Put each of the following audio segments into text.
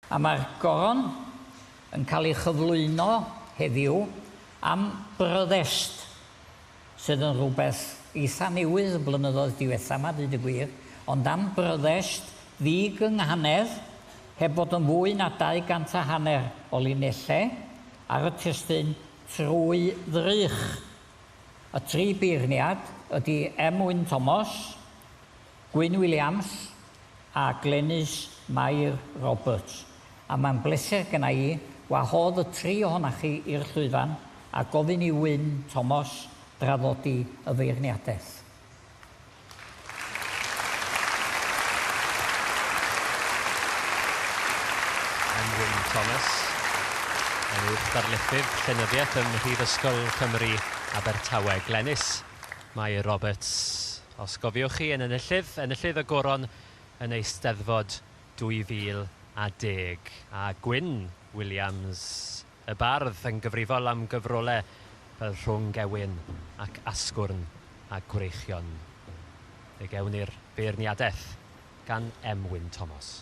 A mae'r Goron yn cael ei chyflwyno heddiw am brotest sydd yn rhywbeth eitha' newydd y blynyddoedd diwetha' 'ma deud y gwir, ond am brotest ddi-gynghanedd heb fod yn fwy na dau gant a hanner o linellau ar y testun trwy ddrych. Y tri beirniad ydi M. Wyn Thomas, Gwyn Williams a Glenys Mair Roberts, a mae'n bleser genna i wahodd y tri ohonoch chi i'r llwyfan a gofyn i Wyn Tomos draddodi y feirniadaeth. I'm Wyn Thomas, yn Uwch Ddarlithydd Llenyddiaeth ym Mhrifysgol Cymru, Abertawe. Glenys Mair Roberts. Os gofiwch chi, yn enillydd, enillydd y Goron yn Eisteddfod 2010. A Gwyn Williams, y bardd, yn gyfrifol am gyfrolau fel Rhwng Gewyn ac Asgwrn a Gwreichion. Fe gewn ni'r beirniadaeth gan M. Wyn Thomas.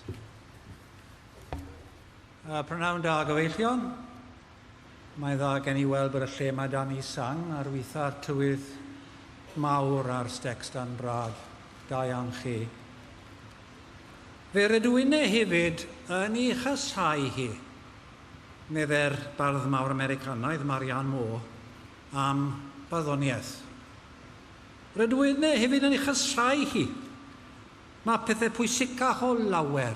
Y prynhawn da, gyfeillion. Mae'n dda gen i weld bod y lle mae dan i sang ar witha'r tywydd mawr a'r stecs dan brad. Da iawn chi. Fe rydw inne hefyd yn i chasau hi, medde'r bardd mawr Americanaidd Marianne Moore am barddoniaeth. Rydw inne hefyd yn i chasau hi. Mae pethau pwysicach o lawer.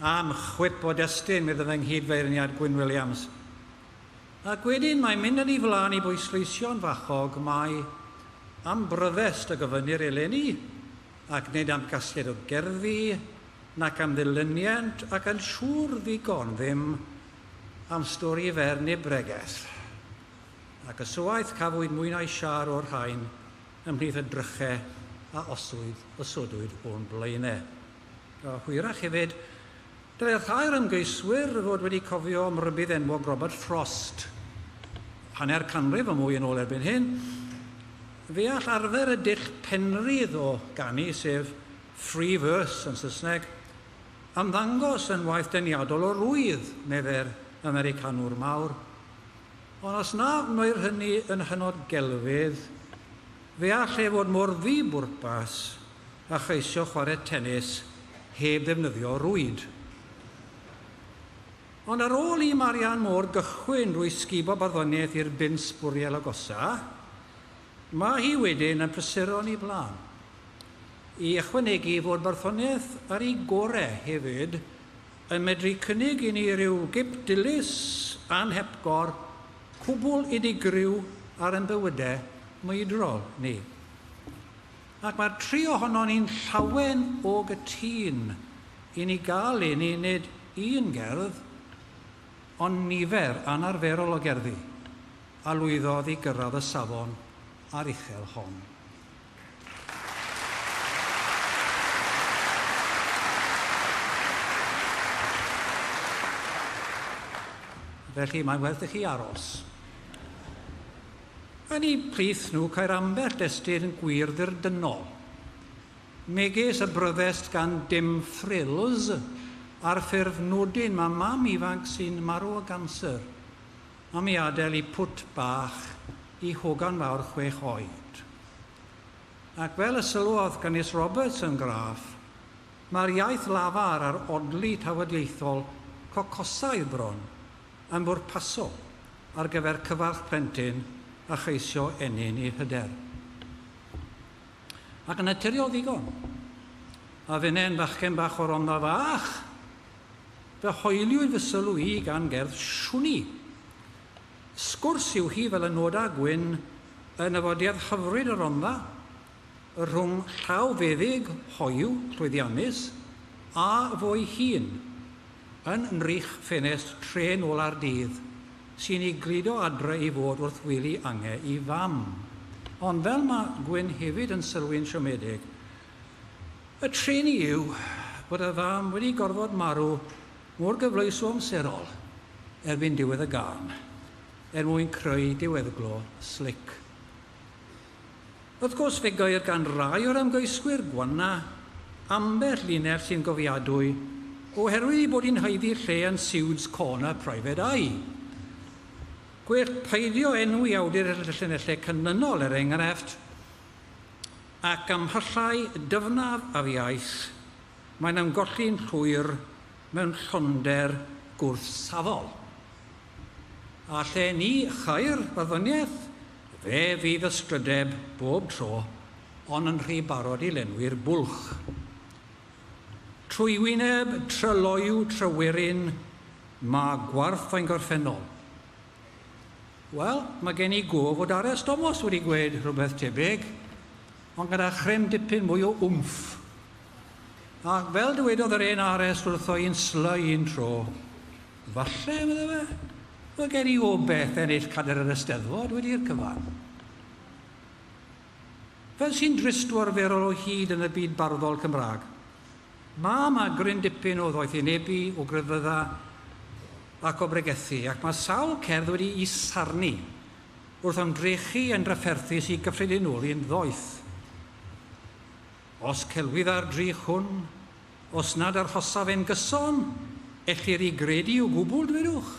Am chwip o destun, meddai fy nghyd-feirniad Gwyn Williams. Ac wedyn mae'n mynd â ni flaen i bwysleisio'n fachog mai am bryfest y gofynnir eleni, ac nid am gasgliad o gerddi, nac am ddilyniant, ac yn siŵr ddigon ddim am stori fer neu bregeth. Ac ysywaeth, cafwyd mwy na'i siâr o'r rhain ymhlith y dryche a oswyd, osodwyd o'n blaenau. A hwyrach hefyd, dylai rhai'r ymgeiswyr fod wedi cofio am rybudd enwog Robert Frost. Hanner canrif a mwy yn ôl erbyn hyn, fe all arfer y dull penrhydd o ganu, sef free verse yn Saesneg, ymddangos yn waith deniadol o rwydd, meddai'r Americanwr mawr. Ond os na wneir hynny yn hynod gelfydd, fe all e fod mor ddibwrpas a cheisio chwarae tenis heb ddefnyddio rwyd. Ond ar ôl i Marianne Moore gychwyn drwy sgubo barddoniaeth i'r bin sbwriel agosa, mae hi wedyn yn prysuro'n ei flaen. I ychwanegu fod barddoniaeth ar ei gorau hefyd yn medru cynnig i ni ryw gip dilys anhepgor, cwbl unigryw ar ein bywydau mwydrol ni. Ac mae'r tri ohonon ni'n llawen o gytûn i ni gael un i nid un gerdd, ond nifer anarferol o gerddi, a lwyddodd i gyrraedd y safon aruchel hon. Felly, mae'n werth i chi aros. Yn eu plith nhw ceir ambell destun gwir-ddirdynol, megis y bryddest gan Dim Frills ar ffurf nodyn mae mam ifanc sy'n marw o ganser am ei adael i pwt bach i hogan fawr chwech oed. Ac fel y sylwodd Canys Roberts yn graff, mae'r iaith lafar a'r odli tafodieithol cocosau bron yn bwrpasol ar gyfer cyfarch plentyn a cheisio ennyn ei hyder. Ac yn naturiol ddigon, a fynnai'n fachgen bach o Rondda Fach, fe hoeliwyd fy sylw i gan gerdd Siwni. Sgwrs yw hi fel y noda Gwyn yn nyfodiad hyfryd y Rondda, y rhwng llaw feddyg, hoyw, llwyddiannus, a fo ei hun. Yn nrych ffenest trên ola'r dydd, sy'n i gludo adre i fod wrth wely ange i fam. Ond fel mae Gwyn hefyd yn sylwi'n siomedig, y treni yw bod y fam wedi gorfod marw mor gyfleus o amserol erbyn diwedd y gân er mwyn creu diweddglo slic. Wrth gwrs, fe geir gan rai o'r ymgeiswyr gwana ambell linell sy'n gofiadwy oherwydd ei bod hi'n haeddu lle yn siwds corner private eye. Gwell peidio enw i awdur y llinellau canlynol, er enghraifft, ac ymhallai dyfnaf ar iaith, mae'n ymgolli'n llwyr mewn llonder gwrthsafol. A lle ni chair barddoniaeth, Fe fydd ysprydeb bob tro on yn rhy barod i lenwi'r bwlch. Trwywyneb, tryloyw, tryweryn, ma gwarth ein gorffennol. Wel, mae gen i gof fod Ares Tomos wedi gweud rhywbeth tebyg, ond gyda chryn dipyn mwy o wmff. Ac fel dywedodd yr hen Ares wrtho i'n sly un tro, Falle, medda fe, fod gen i obaith ennill cadr yr Eisteddfod wedi i'r cyfan. Fel sy'n drist o arferol o hyd yn y byd barddol Cymraeg, mae yma gryn dipyn o ddoethynebu, o grefydda ac o bregethu, ac mae sawl cerdd wedi'i sarnu wrth ymdrechu yn drafferthus i gyffredinoli'n ddoeth. Os celwydda'r drych hwn, os nad arhosaf e'n gyson, ellir i gredu o gwbl, dwedwch?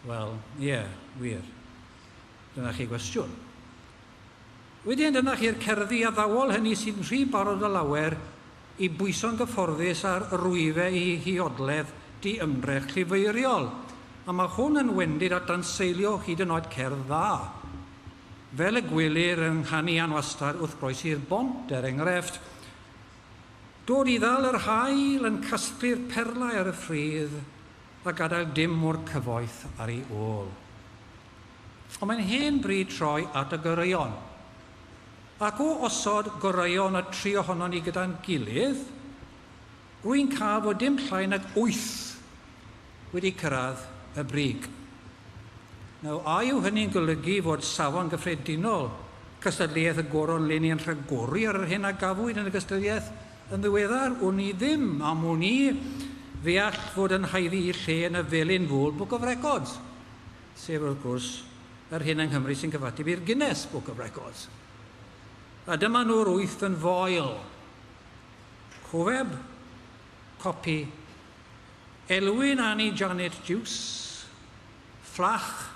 Wel, ie, wir. Dyna chi gwestiwn. Wedyn dyna chi'r cerddi addawol hynny sy'n rhy barod o lawer i bwyso'n gyfforddus ar rwyfe i huodledd di-ymdrech llifeiriol, a mae hwn yn wendid at danseilio hyd yn oed cerdd dda. Fel y gwelir yng nghanian wastad wrth groesi'r bont, er engrefft, Dod i ddal yr haul yn casglu'r perlau ar y ffridd a gadael dim o'r cyfoeth ar ei ôl. Ond mae'n hen bryd troi at y goreuon. Ac o osod goreuon y tri ohonon ni gyda'n gilydd, Rwy'n cael fod dim llai nag wyth wedi cyrraedd y brig. Nawr, a yw hynny'n golygu fod safon gyffredinol cystadleuaeth y Goron Leni yn rhagori ar yr hyn a gafwyd yn y gystadleuaeth yn ddiweddar? Wn i ddim, am wn i, fe all fod yn haeddu ei lle yn y felin ful Book of Records, sef, wrth gwrs, yr hyn yng Nghymru sy'n cyfateb i'r Guinness Book of Records. A dyma nhw'r wyth yn foel. Cofeb, Copi, Elwyn Annie Janet Jus, Fflach,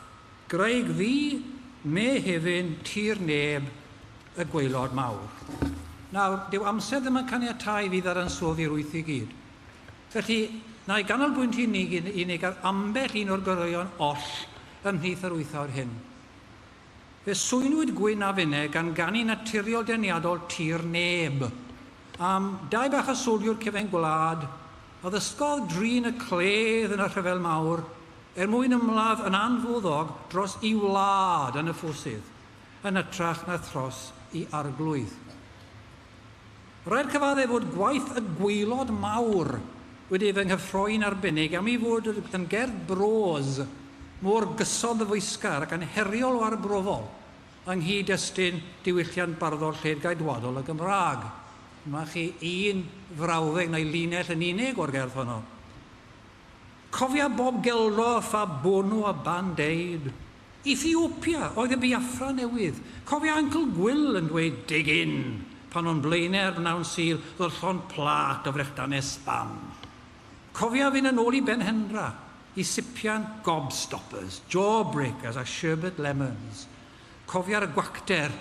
Graig Ddu, Mehefin, Tir Neb, Y Gwaelod Mawr. Nawr, dyw amser ddim yn caniatáu i fi ddadansoddi'r wyth i gyd. Felly, na i ganolbwynt i ni gyd unig ar ambell un o'r goreuon oll ymhlith yr wyth awr hyn. Fe swynwyd gwin a finne gan ganu naturiol deniadol tir neb. Am dai bach a soldio'r cefen gwlad, a ddysgodd drin y cledd yn y Rhyfel Mawr er mwyn ymladd yn anfuddog dros i wlad yn y ffosydd, yn ytrach na thros i arglwydd. Rhaid cyfaddef fod gwaith y gwaelod mawr wedi ei fy nghyffroi'n arbennig am ei fod yn gerdd bros mor gyson ddyfeisgar ac anheriol o arbrofol yng nghyd-destun diwylliant barddol lled-gaedwadol y Gymraeg. Dyma chi un frawddeg neu linell yn unig o'r gerdd honno. Cofia bob gelro a pha bwrnw a band aid. Ethiopia oedd y Biafra newydd. Cofia Uncle Gwyl yn dweud Dig in! pan o'n blaenau ar bnawn Sul ddod llond plât o frechdanau sbam. Cofia fynd yn ôl i Benhenra i sipian gobstoppers, jawbreakers a sherbet lemons. Cofia'r gwacter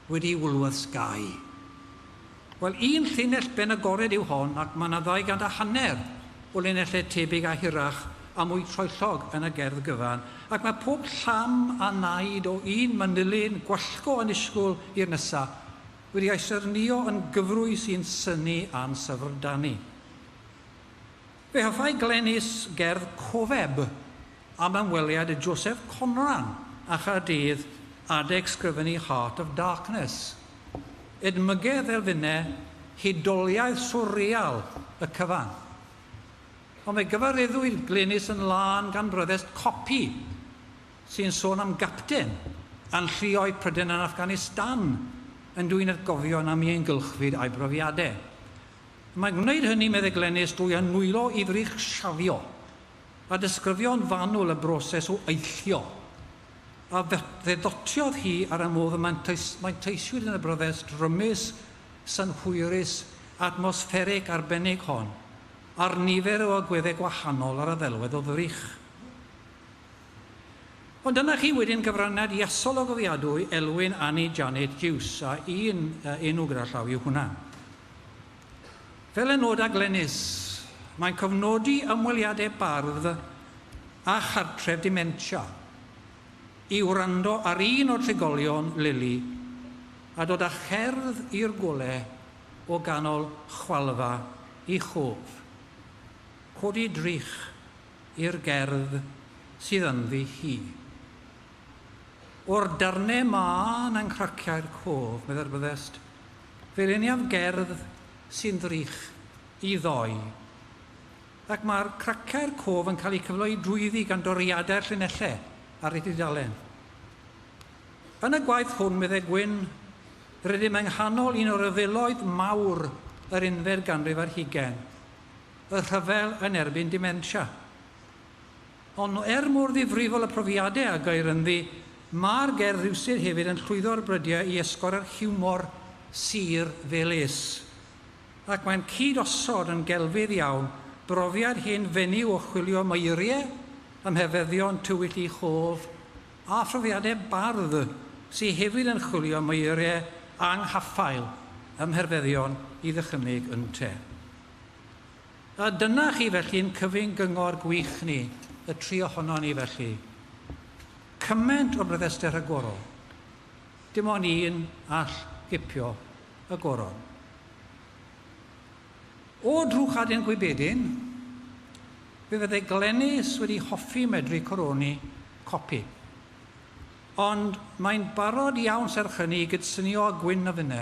Wedi i Woolworths gau? Wel, un llinell ben agored yw hon ac mae 'na ddau gant a hanner o linellau tebyg a hirach a mwy troellog yn y gerdd gyfan, ac mae pob llam a wnaed o un manylyn gwallgo annisgwl i'r nesa' wedi ei sernïo yn gyfrwy sy'n synnu ann syfrdani. Fe hoffai Glenys gerdd cofeb am ymweliad y Joseph Conran a Chaerdydd adeg sgrifennu Heart of Darkness. Edmygedd elfennau hudoliaeth swrreal y cyfan. Ond fe gyfareddwyd Glenys yn lân gan bryddest copi sy'n sôn am gapten a'n lluoedd pryden yn Afghanistan yn dwyn atgofion am ieuengylchfyd a'i brofiadau. Mae gwneud hynny, medde Glenys, drwy annwylo i frig siafio a disgrifio'n fanwl y broses o eillio a fe ddotiodd hi ar y modd y manteisiwyd yn y bryfest drymus, synhwyrus, atmosfferig arbennig hon, ar nifer o agweddau gwahanol ar y ddelwedd o ddrych. Ond dyna chi wedyn gyfraniad iasol a gofiadwy Elwyn, Annie, Janet, Jiws, a un enw gyda llaw yw hwnna. Fel y noda Glenys, mae'n cofnodi ymweliadau bardd â chartref dementia, i wrando ar un o'r trigolion, Lili, a dod â cherdd i'r golau o ganol chwalfa i chof. Codi drych i'r gerdd sydd ynddi hi. O'r darnau mân a nghraciau'r cof, meddai'r byddest, fe leniaf gerdd sy'n ddrych i ddoi. Ac mae'r craciau'r cof yn cael eu cyfleu drwyddi gan doriadau'r llinellau ar ei dudalen. Yn y gwaith hwn, meddai Gwyn, rydym yng nghanol un o ryfeloedd mawr yr unfed ganrif ar hugain, y rhyfel yn erbyn dementia. Ond er mor ddifrifol y profiadau a geir ynddi, mae'r gerdd rywsut hefyd yn llwyddo'r brydiau i esgor yr hiwmor sur fel is. Ac mae'n cyd-osod yn gelfydd iawn brofiad hen fenyw o chwilio meirie ym mhefyddion tywyll ei chof â phrofiadau bardd sy hefyd yn chwilio meirie anghaffael ym mherfeddion i ddychymyg ynte. A dyna chi felly yn cyfyng gyngor gwych ni, y tri ohonon ni felly. Cyment o ryddester rhagorol. Dim ond un all gipio y goron. O Drwchadyn Gwybedyn, fe fydde Glenys wedi hoffi medru coroni copi. Ond mae'n barod iawn serch hynny i gydsynio â Gwyn a finne.